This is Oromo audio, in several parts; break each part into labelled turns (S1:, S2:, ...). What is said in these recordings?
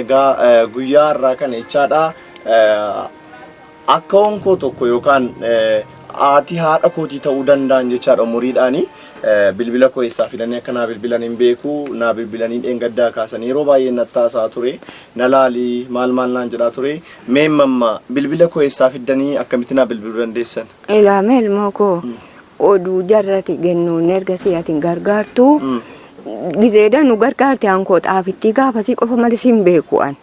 S1: Egaa eh, guyyaa har'aa kana jechaadha eh, akka onkoo tokko yookaan eh, haati haadha kootii ta'uu danda'an jechaadha umuriidhaani eh, bilbila koo eessaa fidanii akka naa bilbilan hin beeku naa bilbilanii dheengaddaa kaasanii yeroo baay'ee natti haasaa ture na laalii maal maal naan jedhaa ture mee mamma bilbila koo eessaa fiddanii akkamitti naa bilbiluu dandeessan Ilaame ilmoo
S2: koo oduu jarrati gennuun erga si'atin gargaartu Mm. Gizeeda nu gargaarte aankoo xaafittii gaafasii qofa malee siin beeku an.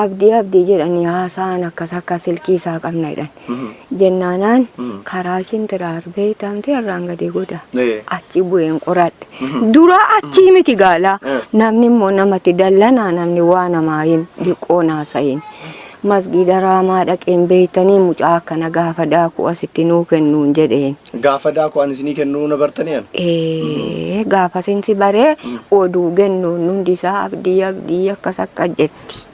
S2: Abdii abdii jedhanii haasaan akkas akka silkii isaa qabna jedhan. Jennaanaan karaa ishiin tiraarbee taamtee irraan gadee goda. Achi bu'een qoradhe. Dura achii miti gaalaa. Namni immoo namatti dallanaa namni waa namaa hin diqqoo naasayin. Masgiida Raamaa dhaqeen beeytanii mucaa akkana gaafa daaku asitti nuu kennuun jedheen. Gaafa daaku an isinii
S1: kennuu na bartanii an? Ee
S2: gaafasin si baree oduu gennuun hundi isaa abdii abdii akkas akkas jetti.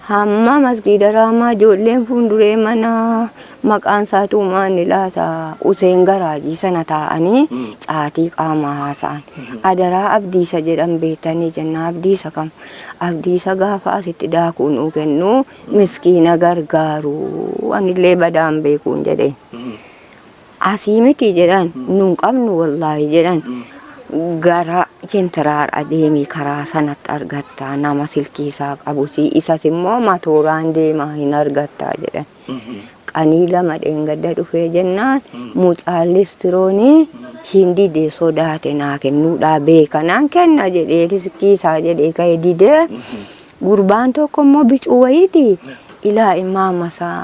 S2: Hamma masgiida Raamaa ijoolleen fuunduree mana maqaan isaatuu maanni laata Useen Garaajii sana taa'anii caatii qaamaa haasa'an. Adaraa abdiisa jedhan beeytanii jennaan abdiisa kam? Abdii isa gaafa asitti daakuu nuu kennu miskiina gargaaru anillee badaan beekuun jedhe. Asii miti jedhan nun qabnu wallaahi jedhan gara jentiraar adeemii karaa sanatti argattaa nama silkii isaa qabusii isas immoo matooraan deemaa hin argattaa jedhan. Qanii lama dheengadda dhufee jennaan mucaan listiroonii hin dide sodaate naa kennuudhaa beeka naan kenna jedhee riskii isaa jedhee ka'e dide gurbaan tokko immoo bicuu wayiiti ilaa immaa masaa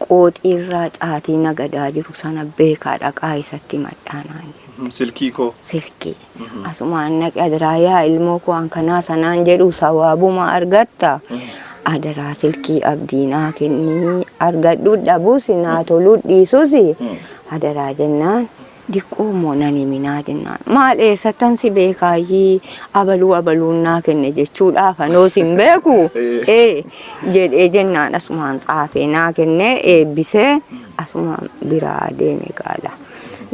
S2: qooxii irraa caatii nagadaa jiru sana beekaa dhaqaa isatti madhaanaan jedhe. Silkii koo.
S1: Silkii.
S2: Asumaan dhaqi adaraa yaa ilmoo koo an kanaa sanaan jedhu sawaabuma argatta. Adaraa silkii abdii naa kennii argadhu dhabus naa toluu dhiisus adaraa jennaan diqqoo immoo nan himinaa jennaan. Maal eessattan si beekaayyii abaluu abaluun naa kenne jechuudha afanoo sin beeku ee jedhee jennaan asumaan tsaafee naa kennee eebbisee asumaan biraa deeme gaala.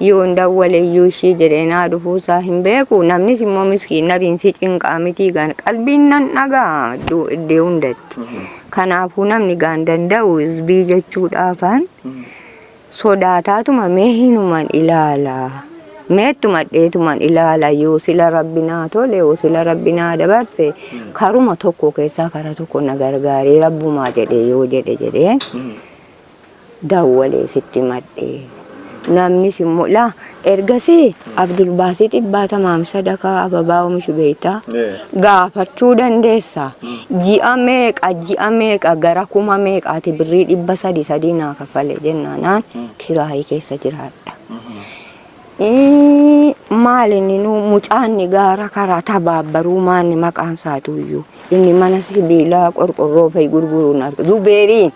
S2: Yoon dawwaleyyuu ishii jedhee naa dhufuusaa hin beeku. Namnis immoo miskiin nariin si cinqaa mitii gaan qalbiin nan dhagaa iddoo iddee hundatti. Kanaafuu namni gaan danda'u isbii jechuudhaafan sodaataatuma mee hinuman ilaala. Meettuma dheetuman ilaala yoo sila rabbi naa tole yoo sila rabbi naa dabarse karuma tokko keessaa kara tokko na gargaaree rabbumaa jedhe yoo jedhe jedhee dawwalee sitti himadhe. Namnis immoo laa ergasii Abdulbaasiit Ibbaa Tamaam sadakaa ababaa omishu beekta gaafachuu dandeessa. Ji'a meeqa ji'a meeqa gara kuma meeqaati birrii dhibba sadii sadii naa kaffale jennaanaan kiraayii keessa jiraadha. maal inni nu mucaanni gaara karaa tabaabbaruu maanni maqaan isaatu iyyuu inni mana sibiilaa qorqorroo fa'i gurguruun arga zubeeriin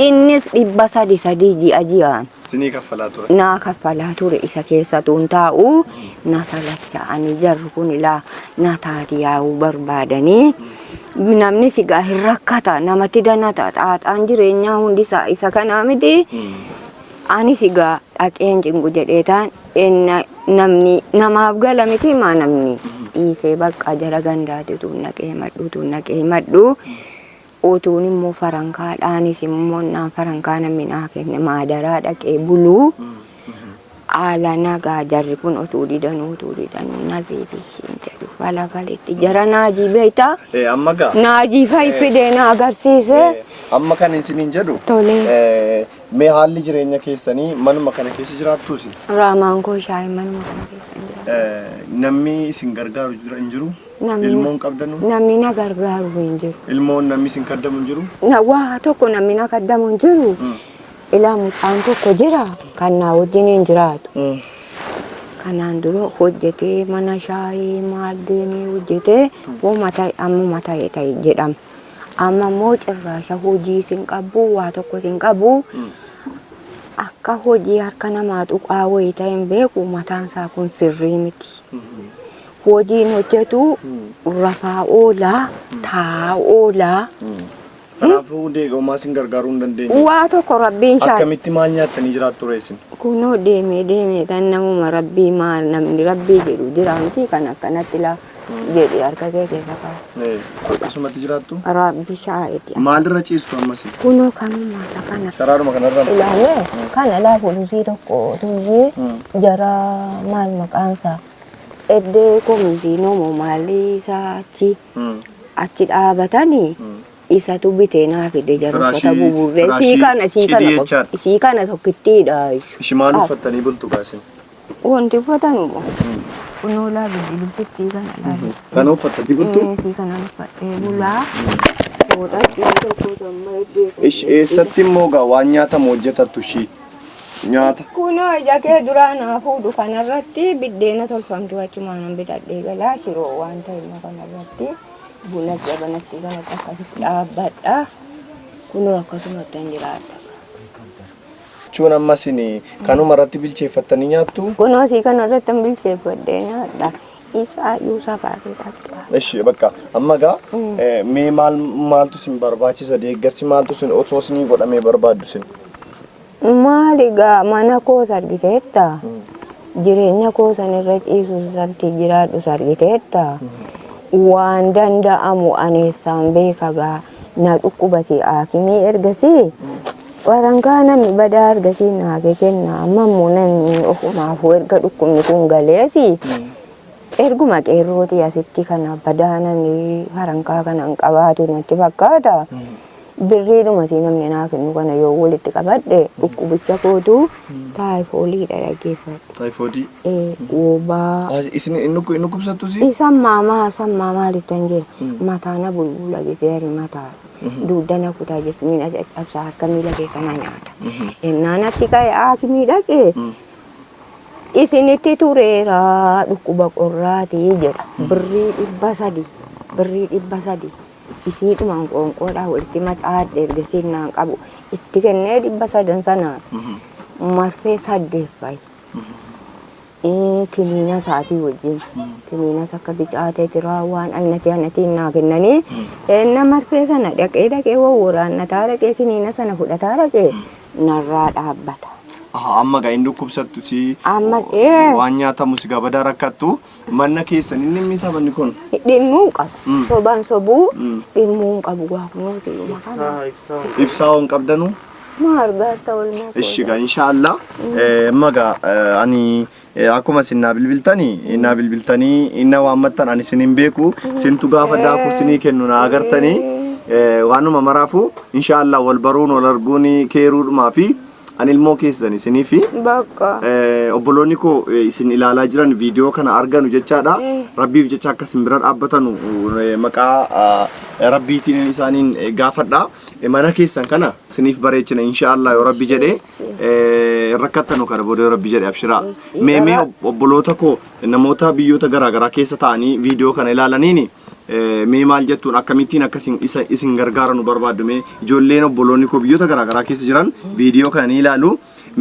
S2: innis dhibba sadi sadii ji'a ji'aan Sinii kaffalaa ture.
S1: naa kaffalaa ture
S2: isa keessatuun taa'u na salacha ani jarri kun ilaa na taati yaa'uu barbaadanii namni sigaa hin rakkata namatti danata xaaxaan jireenyaa hundi isaa isa kanaa miti Anis egaa dhaqeen cinqu jedheetaan enna namni namaaf gala miti maa namni dhiisee baqqaa jara gandaati utuun naqee himadhu utuun naqee himadhu utuun immoo farankaadhaanis immoo naan farankaa namni naa kenne maadaraa dhaqee buluu haala nagaa jarri kun utuu didanuu utuu didanuu nazii fi ishiin jedhu falafalitti jara naajii beektaa Eh, amma gaa.
S1: naajii fayyifidee
S2: na agarsiisee Eh, Amma kan
S1: isiniin jedhu. Tole. eh,
S2: Mee
S1: haalli jireenya keessanii manuma kana keessa jiraattuu isin? Raamaan koo
S2: shaayii manuma kana keessa hin jiraatu. Eh, Namni isin
S1: gargaaru jira hin jiru? Namni- Ilmoon qabdanu?
S2: Namni
S1: na gargaaru
S2: hin jiru. Ilmoon namni isin kaddamu
S1: hin jiru? Na- Waa tokko namni
S2: na kaddamu hin jiru. Ilaa mucaan tokko jira kan naa wajjin hin jiraatu. Kanaan dura hojjetee mana shaayii maal deemee hojjetee hooma ta'e ammuma ta'e ta'e jedhama. Amma immoo cirraasha hojii isin qabbu waa tokko isin qabu akka hojii harka namaa tuqaa wayii ta'e hin beeku mataan isaa kun sirrii miti. Hojiin hojjetu rafaa oolaa taa'aa oolaa Kanaafuu
S1: hundi eegummaa isin gargaaruu hin dandeenye. waa tokko rabbiin
S2: shaal Akkamitti maal nyaattanii
S1: jiraattu ree isin? kunoo deemee
S2: deemee tan namuma rabbii maa namni rabbii jedhu jiraanti kan akkanatti laa jedhi harka kee keessa kaa'e. Akkasumatti jiraattu.
S1: Raabbi shaa'eeti.
S2: Maalirra ciistu ammas?
S1: Kunoo kanuma isa
S2: kana. Sharaadhuma kanarra. Ilaalee
S1: kana laa
S2: polisii tokko tuyyee jara maal maqaan isaa eddee komishiinomo maalii isaa achi achi dhaabatanii isatu bitee naa fide jara uffata Firaashii- buburree sii firaashii kana sii cidii kana jechaadha. sii kana tokkittiidha. Ishi maal
S1: uffattanii bultu gaasin? Wanti uffatan
S2: immoo kunoo laa bilbiluu sittii kana laalee. Kana uffatta dibuttu?
S1: Eesii kana uffadhee
S2: bulaa. Mooxaa ittiin tokko samma eebbee. Ish eessatti immoo
S1: gaa waan nyaatamu hojjetattu ishii nyaata. Kunoo ija kee
S2: duraa naa fuudhu kanarratti biddeena tolfamtu achumaanan bitadhee galaa shiroo waan ta'e immoo kanarratti buna jabanatti kanatti akkasitti dhaabbadha. Kunoo akkasumatti hin jiraadha.
S1: Jechuun amma isin kanuma irratti bilcheeffattanii nyaattu? Kunoo sii kana irratti
S2: hin bilcheeffadhee nyaadha. Isaa yuusaa baarree taphata. Ishi bakka
S1: amma gaa mee maal maaltu isin barbaachisa deeggarsi maaltu isin otoo isinii godhamee barbaaddu isin? Maali
S2: gaa mana koos argiteetta. Jireenya koo san irra ciisu santi jiraadhu argiteetta. Waan danda'amu aneessaan beeka gaa. na dhukkubase haakimii ergasii warankaa namni badaa ergasii naage kenna amma immoo namni ofumaafuu erga dhukkubni kun galeesi erguma qeerrootii asitti kana badaa namni warankaa kana hin qabaatu natti fakkaata birriidhuma si namni naa kennu kana yoo walitti qabadhe dhukkubicha kootu Taayifoolii dha dhageeffadhu. Taayifoodii. Ee,
S1: wobaa.
S2: Ah, Isin hin dhukku-
S1: hin dhukkubsattu si? Isan maamaa isan
S2: maamaa littan jira. Mataa na bulbula gisee ari mataa. Duudda na kutaa jismii na caccabsaa harka miila keessa na nyaata. Ennaa natti ka'e haakimii dhaqee isinitti tureera dhukkuba qorraati jedha. Birrii dhibba sadi. Birrii dhibba sadi. Isiidhumaan qoonqoodhaa walitti macaadhe erga sinnaan qabu itti kennee dhibba sadan sanaan marfee saddeet fa'i. Kiniina isaatii wajjin kiniinas akka bicaatee jira waan annatii annatiin naa kennanii enna marfee sana dhaqee dhaqee wawwaraannataa dhaqee kiniina sana fudhataa dhaqee narraa dhaabbata. Aha, amma gaa hin
S1: dhukkubsattu si Amma- ee.
S2: waan nyaatamu
S1: si gabadaa rakkattu Manna keessan inni immi sabanni kun. Dhimmuu hin qabu.
S2: Mm. Soban sobuu Mm. dhimmuu hin qabu gaa kunoo si'uma kana. Ibsaa waan
S1: qabdanu. Maa argaarta
S2: olmaa koo. Ishi gaa
S1: inshaallah. Amma gaa eh, ani eh, akkuma isin naa bilbiltanii naa bilbiltanii na waammattan ani isin hin beeku sintu gaafa daakuu isinii kennu naa agartanii eh, waanuma maraafuu inshaallah wal baruun wal arguun keeruudhumaa fi Ani ilmoo keessan isinii fi Bakka. eh,
S2: obboloonni
S1: koo eh, isin ilaalaa jiran viidiyoo kana arganu jechaadha. Rabbiif jecha akka isin bira dhaabbatanu eh, maqaa ah, rabbiitiin isaaniin eh, gaafadha. Eh, Mana keessan kana isiniif bareechina inshaallah yoo rabbi jedhee eh, hin rakkattanu kana booda yoo rabbi jedhe abshiraa. Mee mee obboloota koo Namoota biyyoota garaa garaa keessa taa'anii viidiyoo kana ilaalaniin mee maal jettuun akkamittiin akka isin isa isin gargaara nu barbaaddu mee ijoolleen obboloonni koo biyyoota garaa garaa keessa jiran viidiyoo kana ni ilaalu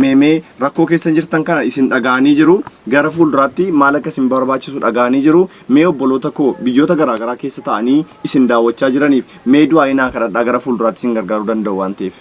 S1: mee mee rakkoo keessa jirtan kana isin dhaga'anii jiru gara fuulduraatti maal akka isin barbaachisu dhaga'anii jiru mee obboloota koo biyyoota garaa garaa keessa taa'anii isin daawwachaa jiraniif mee du'aa inaa kadhadhaa gara fuulduraatti isin gargaaruu danda'u waan ta'eef.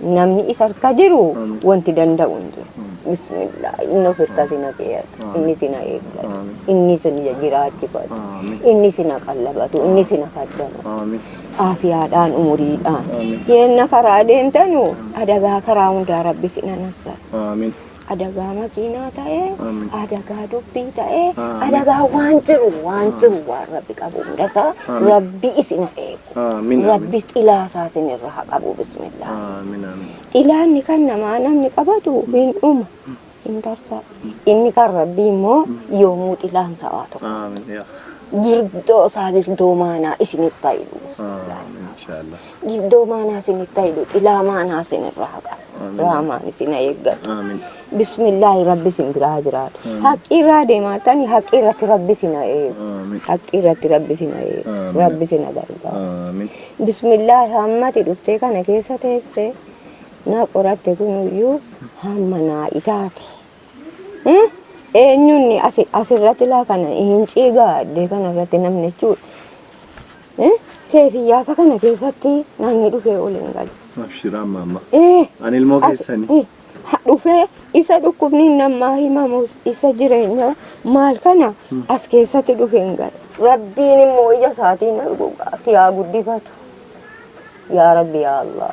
S2: Namni isa harka jiru wanti danda'u hin jiru. Bismillah inni of harka isin haqeeyatu inni isin eeggatu inni isin jiraachifatu inni isin qallabatu inni isin kaddamu aafiyaadhaan umuriidhaan yeenna karaa deemtanu adagaa karaa hundaa rabbi isin anassa. adagaa makiinaa ta'ee, Amiin. adagaa dubbii ta'ee, Amiin. adagaa waan jiru waan jiru waan rabbi qabu hundasaa Amiin. rabbi isin haa eegu. Amiin, Rabbi xilaasaa isin irra haa qabu bismillah. Amiin amiin. Xilaanni kan namaa namni qabatu hin dhuma hin tarsaa. Inni kan rabbii immoo yoomuu xilaan isaa waa tokko. Amiin yaa. Girdoo isaa girdoo maanaa isinitti haa hidhu. Amiin inshaallah. Giddoo maanaa isinitti haidhu xilaa maanaa isinirraa haqa. Raamaan isin eeggatu. Bismillaahi rabbi isin biraa jiraatu. Haqqii irraa deemaa tani haqqii irratti rabbi isin eegu. Haqqii irratti rabbi isin eegu. Rabbi isin gargaaru. Bismillaahi hammati dhuftee kana keessa teessee na qoratte kunuyyuu hamma naa itaate. Hmm? Eenyuun asi- asirratti laa kana hin ciigaa addee kana irratti namni jechuudha. Hmm? Keefiyyaasa kana keessatti namni dhufee ol hin galu. Abshir amma
S1: amma. Eh, Ani ilmoo as- keessani. eh, ha- dhufee
S2: isa dhukkubni namaa himamus isa jireenya maal kana as keessatti dhufee hin galu. Rabbiin immoo ija isaatiin arguu si haa guddifatu. Yaa Rabbi yaa Allah.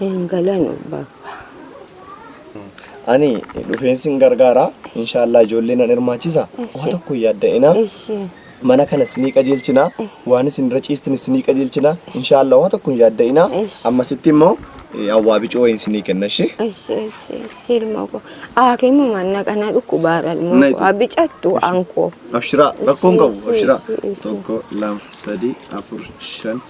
S2: Hin galanu baba.
S1: Ani dhufeen sin gargaara. Inshaallah ijoollee nan hirmaachisa. Waa tokko hin yaadda'ina. Mana kana sinii qajeelchina. Waan isin irra ciistin sinii qajeelchina. Inshaallah waa tokko hin yaadda'ina. Ammasitti immoo awwaa bicuu wayiin sinii kenna ishee. Silma
S2: ko. Akimu manna kana dhukkubaara ilmoo Naitu. ko. Abicattu anko. Abshiraa rakkoon
S1: qabu abshiraa. Tokko lama sadii afur shan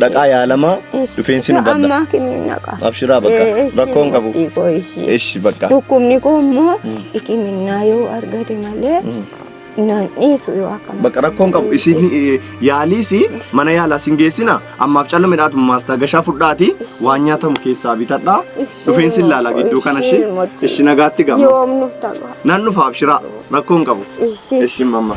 S1: Dhaqaa yaalamaa dhufeensi nu badda. Ammaa kimiin naqa.
S2: Abshiraa bakka
S1: rakkoon qabu. Eshi bakka. Dhukkubni koo immoo
S2: hikiminnaa yoo argate malee naan dhiisu yoo akkana. Bakka rakkoon qabu isin
S1: yaaliis mana yaalaa isin geessina ammaaf callu midhaatu maastaa gashaa fudhaati waan nyaatamu keessaa bitadhaa dhufeensi ilaala gidduu kana ishee ishi nagaatti gama. Yoom nuuf ta'a.
S2: Nan dhufa abshiraa
S1: rakkoon qabu. Ishi. Ishi mamma.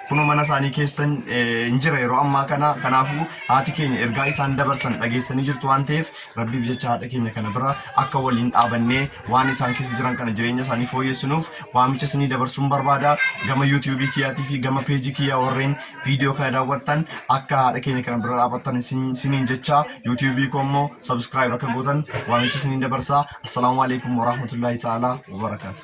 S3: Kunoo mana isaanii keessa hin jira yeroo ammaa kana. Kanaafuu haati keenya ergaa isaan dabarsan dhageessanii jirtu waan ta'eef rabbiif jecha haadha keenya kana bira akka waliin dhaabannee waan isaan keessa jiran kana jireenya isaanii fooyyessinuuf waamicha isinii dabarsuun barbaada. Gama yuutuubii kiyyaatii fi gama peejii kiyyaa warreen viidiyoo kana daawwattan akka haadha keenya kana bira dhaabattan isiniin jecha yuutuubii koo immoo sabiskiraayib akka gootan waamicha isiniin dabarsa. Assalaamu alaikum warahmatullaahi ta'aalaa wabarakaatu.